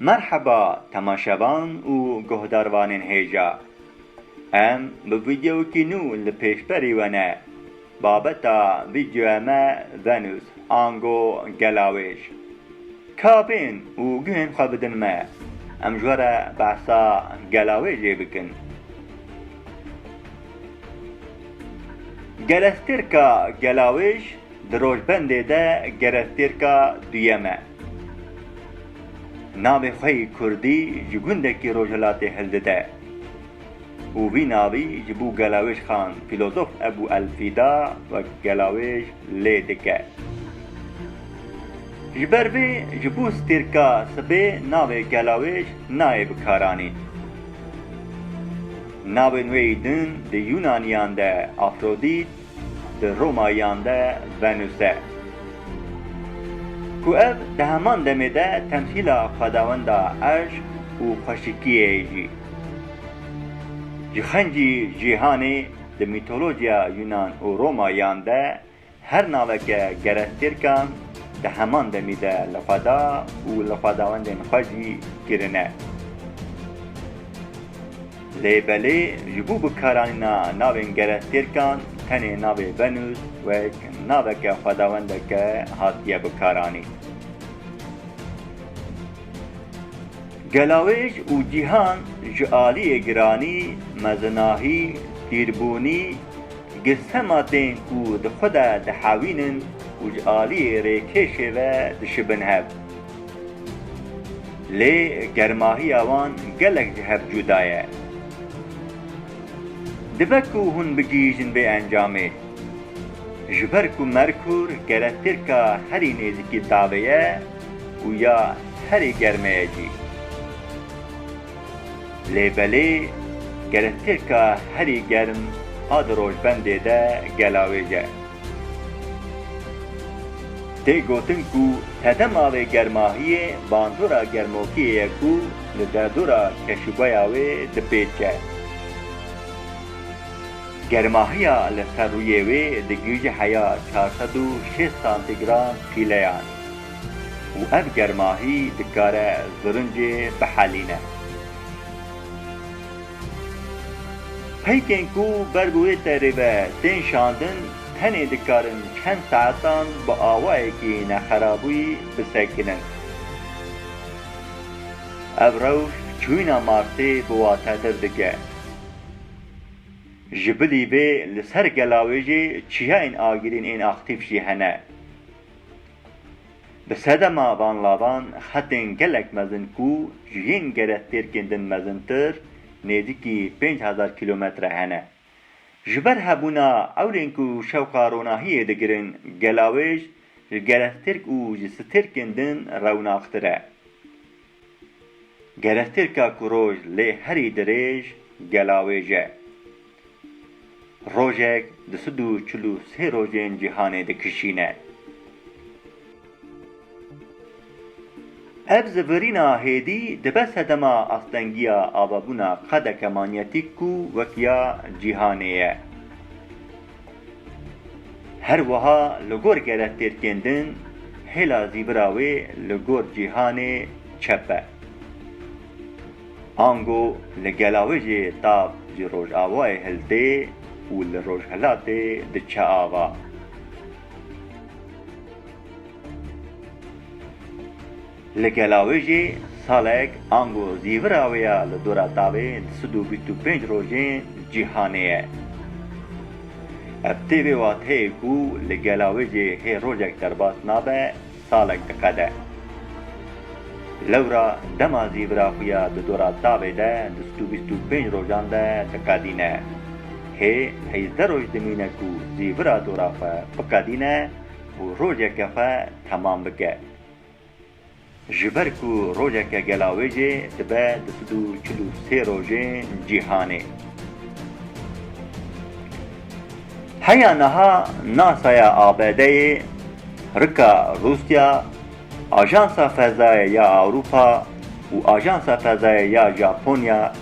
Merheba temaşevan û guhdarvanên hêja. Em bi vîdeoyekî nû li pêşberî we ne. Babeta vîdeoya me venûs ango gelawêj. Kabên û guhên xwe bidin me. Em ji we re behsa gelawêjê bikin. Gerestêrka gelawêj di rojbendê de gerestêrka duyem e. Navê xwe yê kurdî ji gundekî rojhilatê hildide. û vî navî ji bo gelawêjxan fîlozof Ebû Elfîda wek gelawêj lê dike. Ji ber vê ji bo stêrka sibê navê gelawêj nayê bikaranîn. Navên wê din di Yûnaniyan de Afrodît, di Romayiyan de venuse ku ev di heman demê de temsîla xwedawenda eşq û xweşikiyê jî ji xencî cîhanê di mîtolojiya Yunan û Romayiyan de her naveke gerestêrkan di heman demî de li xweda û li xwedawendên xwe jî kirine. Lêbelê ji bo bikaranîna navên gerestêrkan tenê navê venûs wek naveke xwedawendeke hatiye bikaranîn. Gelawêj û cîhan ji aliyê giranî, mezinahî, tîrbûnî, girsema tên ku di xwe de dihewînin û ji aliyê rêkêşê ve dişibin hev, Lê germahiya wan gelek ji hev cuda ye. Dibe ku hûn bigihîjin vê encamê. Ji ber ku Merkur gere tirka herî nêzîkî tavê ye û ya herî germe ye jî. Lê belê gere tirka herî germ a di rojbendê de gelawêj e. Tê gotin ku tede malê germahiyê bandora germokiyê ye ku li derdora keşûbeya wê dipêçe. Germahiya li ser rûyê wê digihîje heya çar sed û şêst santîgram pîleyan û ev germahî dikare zirincê bihelîne. Peykên ku ber bi wê terê ve tên şandin tenê dikarin çend saetan bi awayekî nexerabû bi sekirin. Ev rewş çûyîna Marsê bi watetir dike. Ji bilî vê li ser gela wê jî çiyayên agirîn ên aktîf jî hene. Bi sedema van lavan xetên gelek mezin ku ji yên gerehtêrkên din mezintir nêzîkî pênc hezar kîlometre hene. Ji ber hebûna ewlên ku şewqa ronahiyê digirin, gelawêj ji gerehtêrk û ji stêrkên din rewnaqtir e. Gerextirka ku roj lê herî dirêj gelawêj e. Rojek di sid û çil û sê rojên cîhanê dikişîne. Ev zivirîna hêdî dibe sedema astengiya avebûna qedeke manyetîk ku wek ya cîhanê ye. Her wiha li gor gerek têr kêndin, hêla zîvira wê li gor cîhanê çep e. Ango li gela wê jê tav ji rojavayê hiltê û li rojhilatê diçe ava. Li gela wê jî salek ango zîvira wê ya li dora tavê sed û bîst û pênc rojên cîhanê ye. Ev tê vê wateyê ku li gela wê jî hê rojek derbas nabe salek diqede. Lewra dema zîvira xwe ya di dora tavê de di sed û bîst û pênc rojan de diqedîne. Hê heyzdeh roj dimîne ku zîvira dora xwe biqedîne û rojeke xwe temam bike. Ji ber ku rojeke gelawêjê dibe di sid û çil û sê rojên cîhanê. Heya niha NASA'ya ABD'ê, Rika Rûsya, Ajansa Fezayê ya Ewropa û Ajansa Fezayê ya Japonya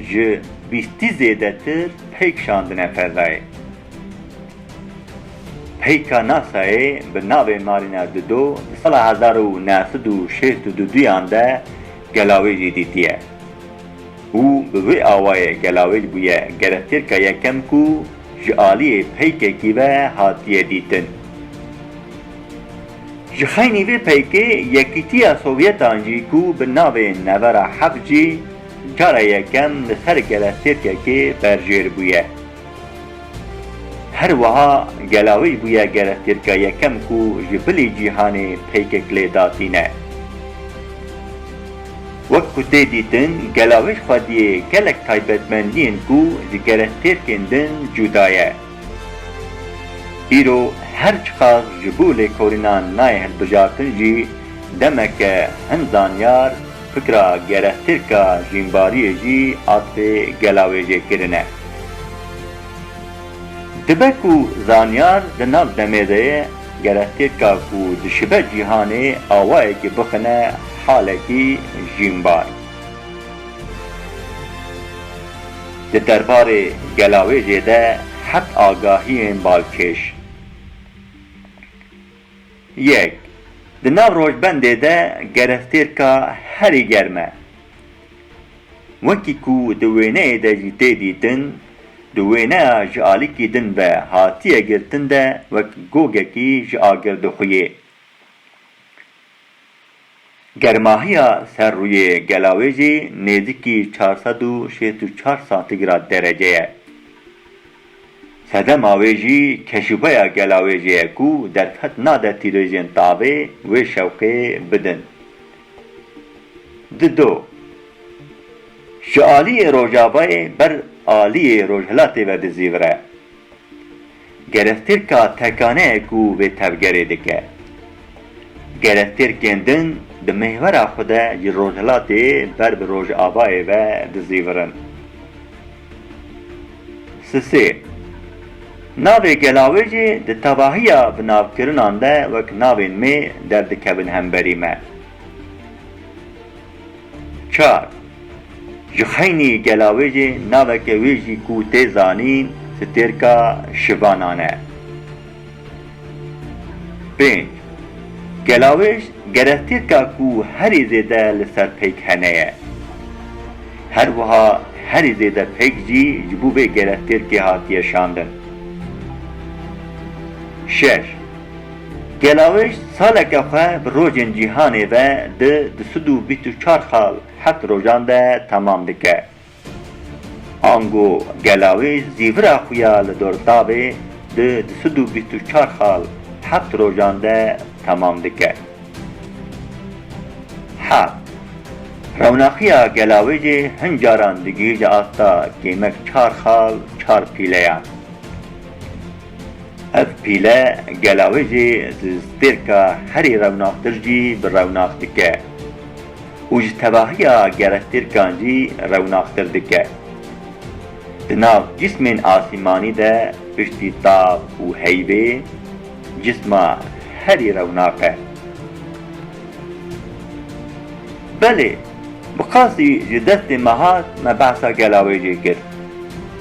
ji bîstî zêdetir pey kişandine fezayê. Heyka NASA'yê bi navê Mariner du do di sala hezar û neh sed û şêst û du duyan de gelawê jî dîtiye û bi wê awayê gelawêj bûye gerestêrka yekem ku ji aliyê peykekî ve hatiye dîtin. Ji xeynî vê peykê Yekîtiya Sovyetan jî ku bi navê Nevera heft jî cara yekem li ser gerestêrkekê berjêr bûye. Her wiha Gelawij bûye gerestêrka yekem ku ji bilî cîhanê peykek lê da tîne. Wek ku tê dîtin Gelawij xwediyê gelek taybetmendiyên ku ji gerestêrkên din cûda ye. Îro her çiqas ji bo lêkolînan nayê hilbijartin jî demeke hin zanyar, Fikra gerehtirka jînbariyê jî asê gelawêjêkirin e. Dibe ku zanyar di nav demê de ye, gerehtirka ku dişibe cîhanê awayekî bixine halekî jînbar. Di derbarê gelawêjê de heft agahiyên balkêş. Yek, Di nav rojbendê de gereftêrka herî germ e. Wekî ku di wêneyê de jî tê dîtin, di wêneya ji alikî din ve hatiye girtin de wek gogekî ji agir dixuyê. Germahiya ser rûyê gela wê jî nêzîkî çar sed û şêst û çar santigrad derece ye. Sedema wê jî keşûpeya gela wê jî ye ku derfet nade tîrêjên tavê wê şewqê bidin. Di do. Ji aliyê rojavayê ber aliyê rojhilatê ve dizîvire. Gerestêrka tekane ku vê tevgerê dike. Gerestêrkên din di mêhwera xwe de ji rojhilatê ber bi rojavayê ve dizîvirin. Sisê. Navê gela wê jî di tevahiya binavkirinan de wek navên mê derdikevin hemberî me. Çar, Ji xeynî gela wê jî naveke wê jî ku tê zanîn stêrka şivanan e. Pênc, Gela wê gere stêrka ku herî zêde li ser peyk hene ye. Her wiha herî zêde peyk jî ji bo vê gere stêrkê hatiye şandin. Şeş, Gelawiş saleke xwe bi rojên cîhanê ve di du sed û bîst û çar xal heft rojan de temam dike. Ango Gelawiş zîvira xwe ya li Dortavê di du sed û bîst û çar xal heft rojan de temam dike. Heft. Rewnaxiya Gelawijê hin caran digihîje asta kêmek çar xal çar pîleyan. Ev pîle gela wê jî di stêrka herî rewnaxtir jî bi rewnax dike û ji tevahiya gerestêrkan jî rewnaxtir dike. Di nav cîsmên asîmanî de piştî tav û heyvê cîsma herî rewnax e. Belê, bi qasî ji destê me hat me behsa gela wê jê kir.